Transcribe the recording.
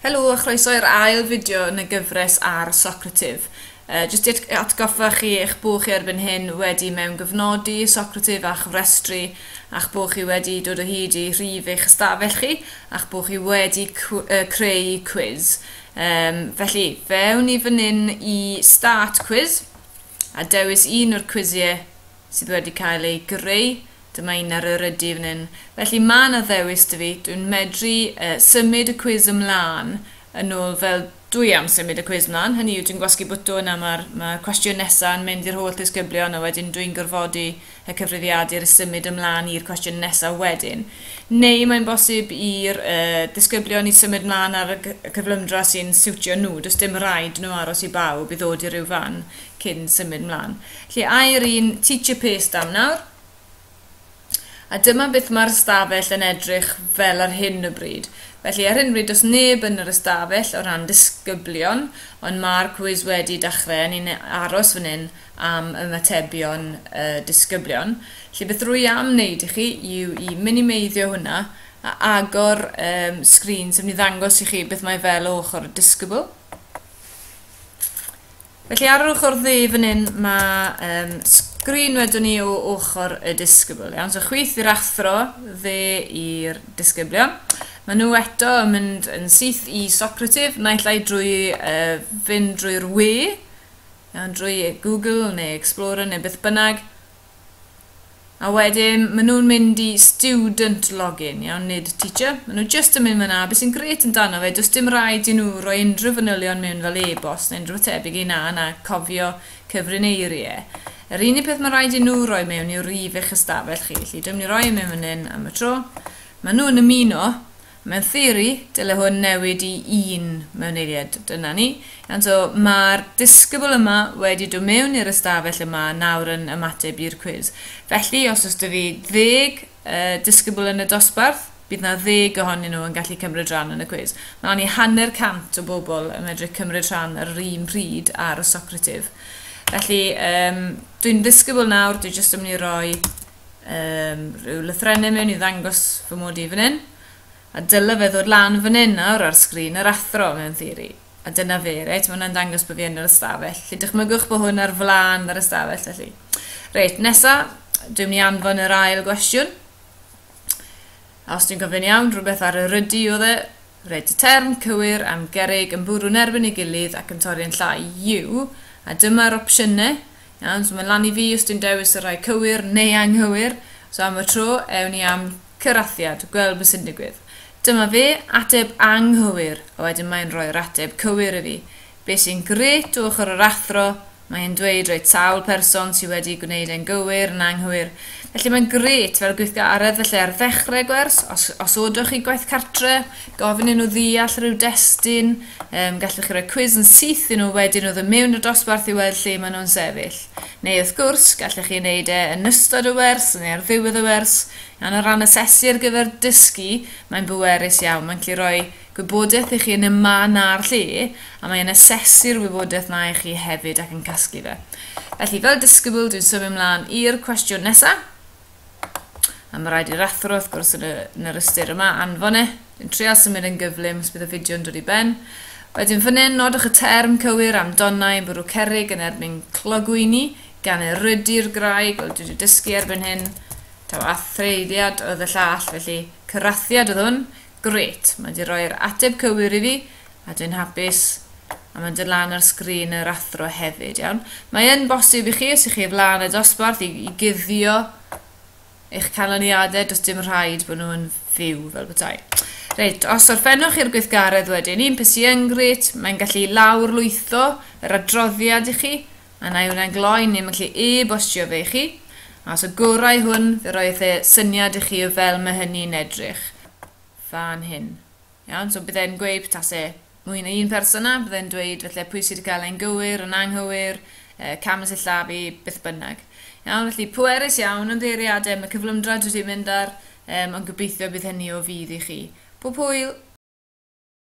Helo a chroeso i'r ail fideo yn y gyfres ar Socrative. Uh, jyst i atgoffa chi eich bod chi erbyn hyn wedi mewn gyfnodi Socrative a chofrestru a'ch bod chi wedi dod o hyd i rhif eich ystafell chi a'ch bod chi wedi creu quiz. Um, felly, fewn i fan hyn i Start Quiz a dewis un o'r cwisiau sydd wedi cael ei greu, dyma un ar yr ydy fan hyn, felly mae yna ddewis dy fi, dwi'n medru uh, symud y cwiz ymlaen yn ôl fel dwi am symud y cwiz ymlaen, hynny yw dwi'n gwasgu bwtwn a mae'r ma cwestiwn nesaf yn mynd i'r holl ddisgyblion a wedyn dwi'n gorfodi y cyfrifiadur i symud ymlaen i'r cwestiwn nesaf wedyn. Neu mae'n bosib i'r uh, disgyblion i symud ymlaen ar y cyflymdra sy'n siwtio nhw, does dim rhaid nhw aros i bawb i ddod i ryw fan. cyn symud mlaen. Lle ai'r un teacher paste am nawr. A dyma beth mae'r ystafell yn edrych fel ar hyn o bryd. Felly ar hyn o bryd does neb yn yr ystafell o ran disgyblion, ond mae'r cwis wedi dechrau a ni'n aros fan hyn am ymatebion y disgyblion. Felly beth rwy am wneud i chi yw i minimeiddio hwnna a agor um, sgrin, sef ni ddangos i chi beth mae fel o ochr y disgybl. Felly ar yr ochr ddu fan hyn mae um, sgrin wedwn ni o ochr y disgybl. Iawn, so chwith i'r athro, dde i'r disgyblion. Mae nhw eto yn mynd yn syth i Socrative, naill ai drwy uh, fynd drwy'r we, iawn, drwy Google neu Explorer neu beth bynnag, A wedyn, maen nhw'n mynd i student login, iawn, nid teacher. Maen nhw just yn mynd fyna. Beth sy'n gret yn dano fe, does dim rhaid i nhw roi unrhyw fanylion mewn fel e-bost neu unrhyw tebyg ei na na cofio cyfrineiriau. Yr unig peth mae'n rhaid i nhw roi mewn yw rif eich ystafell chi. Felly, dwi'n mynd i roi e mewn fan hyn am y tro. Maen nhw'n ymuno. Mewn theori, dyle hwn newid i un mewn eiliad, dyna ni. Iawn, so mae'r disgybl yma wedi dod mewn i'r ystafell yma nawr yn ymateb i'r cwis. Felly, os oes 'da fi ddeg uh, disgybl yn y dosbarth, bydd na ddeg ohonyn nhw yn gallu cymryd rhan yn y cwis. Mae ond i hanner cant o bobl yn medru cymryd rhan ar yr un pryd ar y Socrative. Felly, um, dwi'n ddisgybl nawr, dwi jyst yn mynd i roi um, rhyw lythrennau mewn i ddangos fy mod i fan hyn. A dyle fe ddod lan fan hyn nawr ar sgrin yr athro mewn theori. A dyna fe, reit, mae hwnna'n dangos bod fi yn yr ystafell. Felly dychmygwch bod hwn ar flan yr ystafell, felly. Reit, nesa, dwi'n mynd i anfon yr ail gwestiwn. A os dwi'n gofyn iawn, rhywbeth ar yr ydy oedd e. Reit, y term cywir am gerig yn bwrw'n erbyn ei gilydd ac yn torri yn llai yw, a dyma'r opsiynau, Iawn, so mae'n lan i fi os dwi'n dewis y rhai cywir neu anghywir. So am y tro, ewn ni am cyrathiad, gweld beth sy'n digwydd. Dyma fe, ateb anghywir, a wedyn mae'n rhoi'r ateb cywir i fi. Be sy'n gret o ochr yr athro, mae e'n dweud roi sawl person sydd wedi gwneud e'n gywir yn anghywir. Felly mae'n gret fel gweithgaredd, felly ar ddechrau gwers, os osodoch chi gwaith cartre, gofyn i nhw ddeall rhyw destun, um, gallwch chi roi cwis yn syth i nhw wedyn o ddod mewn i'r dosbarth i weld lle maen nhw'n sefyll. Neu wrth gwrs, gallwch chi wneud e yn ystod y wers neu ar ddiwedd y wers, iawn o ran asesu ar gyfer dysgu, mae'n bwerus iawn, mae'n gallu rhoi gwybodaeth i chi yn y man na'r lle, a mae'n asesu'r wybodaeth na i chi hefyd ac yn casglu fe. Felly, fel disgybl, dwi'n symud ymlaen i'r cwestiwn nesaf. A mae rhaid i'r athro, wrth gwrs, yn, y, yn yr ystyr yma, anfon e. Dwi'n treol symud yn gyflym os bydd y fideo yn dod i ben. Wedyn fan hyn, nodwch y term cywir am donnau yn bwrw cerig yn erbyn clogwyni, gan erydu'r graig, wel dwi wedi dysgu erbyn hyn, taw athreiddiad oedd y llall, felly cyrathiad oedd hwn, Grêt, mae wedi rhoi'r ateb cywir i fi, a dwi'n hapus. A mae'n dod lan ar sgrin yr athro hefyd, iawn. Mae yn bosib i chi, os ych chi flaen y dosbarth, i, i guddio eich canlyniadau, does dim rhaid bod nhw'n fyw fel bethau. Reit, os orffennwch i'r gweithgaredd wedyn, un peth sy'n grêt, mae'n gallu lawrlwytho yr adroddiad i chi, A wna i hwnna gloi, ni'n gallu e-bostio fe i chi. A os y gorau hwn, fe roedd e syniad i chi o fel mae hynny'n edrych. Fan hyn. Iawn, so byddai'n gweud tas e mwy na un person yna, byddai'n dweud felly pwy sydd wedi cael ein gywir, yn anghywir, uh, cam y sillafu, beth bynnag. Iawn, felly pwerus iawn yn ddeiriadau, mae cyflymdrad wedi mynd ar, um, ond gobeithio bydd hynny o fydd i chi. Pob hwyl!